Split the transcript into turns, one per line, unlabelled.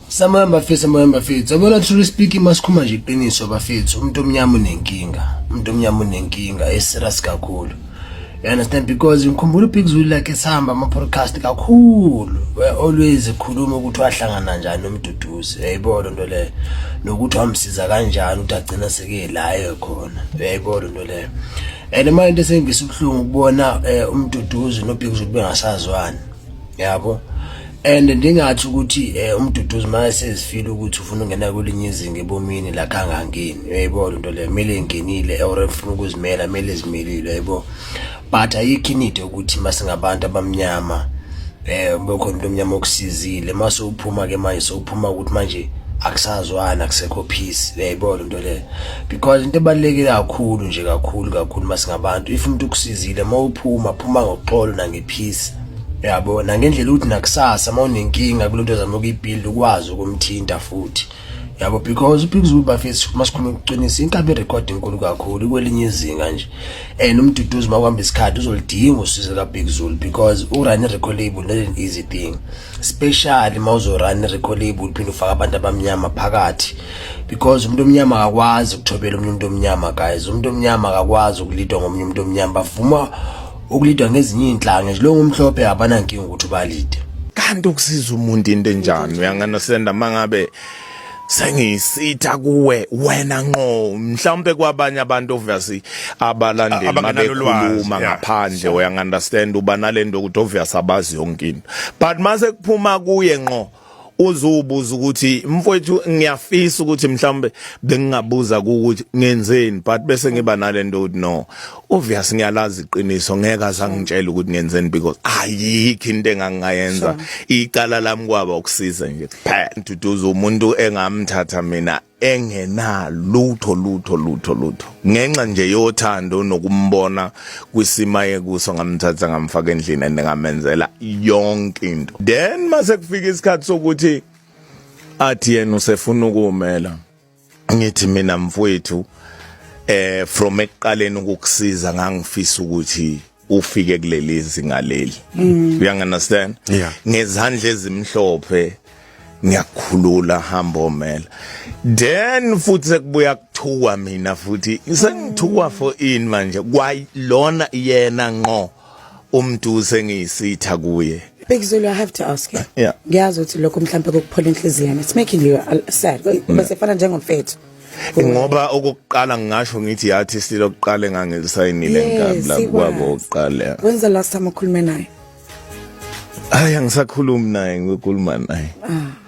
Samoya bafethu samoya bafethu yabona truly speaking masikhuma nje iqiniso bafethu umuntu omnyama unenkinga umuntu omnyama unenkinga eserious kakhulu you understand because ngikhumbula ubig zulu like esihamba ama-podcast kakhulu were always ekhuluma ukuthi wahlangana njani nomduduzi uyayibo lo nto leyo nokuthi wamsiza kanjani ukuthi agcina seke layo khona uyayibo lo nto leyo and manje into esengivisa ubuhlungu ukubona um eh, umduduzi nobig zulu bengasazwani yabo and ndingathi ukuthi eh, umduduzi manje sezifile ukuthi ufuna ungena kwelinye izinga ebomini la kangangeni uyayibo lento le kumele ingenile or efuna ukuzimela kumele ezimelile uyayibo but ayikho inide ukuthi masingabantu abamnyama eh bekhona into omnyama okusizile mase uphuma ke manje sowuphuma ukuthi manje akusazwana akusekho peace uyayibo lento le because into ebaluleke kakhulu nje kakhulu kakhulu masingabantu if umuntu ukusizile mawuphuma phuma ngoxolo nange peace yabo nangendlela ukuthi nakusasa uma unenkinga kulento zama ukuyibuild ukwazi ukumthinta futhi yabo because uphika ukuthi bafethu uma sikhuluma ukuqinisa inkabi record enkulu kakhulu kwelinye izinga nje and umduduzi uma kuhamba isikhathi uzolidinga usizo ka Big Zulu because u run record label not an easy thing especially uma uzo run record label phinde ufaka abantu abamnyama phakathi because umuntu omnyama akakwazi ukuthobela umuntu omnyama guys umuntu omnyama akakwazi ukulidwa ngomunye umuntu omnyama bavuma ukulidwa ngezinye iy'nhlanga nje lo ngumhlophe abanankinga ukuthi ubalide kanti ukusiza
umuntu into enjani uyangana senda mangabe sengisitha kuwe wena nqo mhlawumbe kwabanye abantu obviously abalandeli mabekhuluma ngaphandle uyangunderstand uba nalento ukuthi obviously abazi yonke into but mase kuphuma kuye nqo uzubuza ukuthi mfowethu ngiyafisa ukuthi mhlawumbe bengingabuza ukuthi ngenzeni but bese ngiba nalento ukuthi no obvious ngiyalazi iqiniso ngeke azangitshela ukuthi ngenzeni because ayikho into engangayenza icala lami kwaba ukusiza nje kuphela ntuduza umuntu engamthatha mina engenalutho lutho lutho lutho ngenxa nje yothando nokumbona kwisima yekuso ngamthatha ngamfaka endlini and ngamenzela yonke into then mase kufika isikhathi sokuthi athi yena usefuna ukumela ngithi mina mfowethu eh from ekuqaleni ukukusiza ngangifisa ukuthi ufike kuleli zinga leli mm. you understand yeah. ngezandla ezimhlophe ngiyakhulula hamba omela then futhi sekubuya kuthuka mina futhi sengithukwa for in manje kwayilona yena nqo umuntu sengiyisitha kuye Bhekizulu I have to
ask you. Yeah. Ngiyazi ukuthi lokho
mhlawumbe
kokuphola inhliziyo. It's making you uh, sad. Bese fana njengomfethu. ngoba
okokuqala ngingasho ngithi yathi silo okokuqala engangilisayinile nkabi la kwabo okokuqala wenza last time ukhulume
naye
hayi
angisakhulumi
naye
ngikhuluma
naye
ah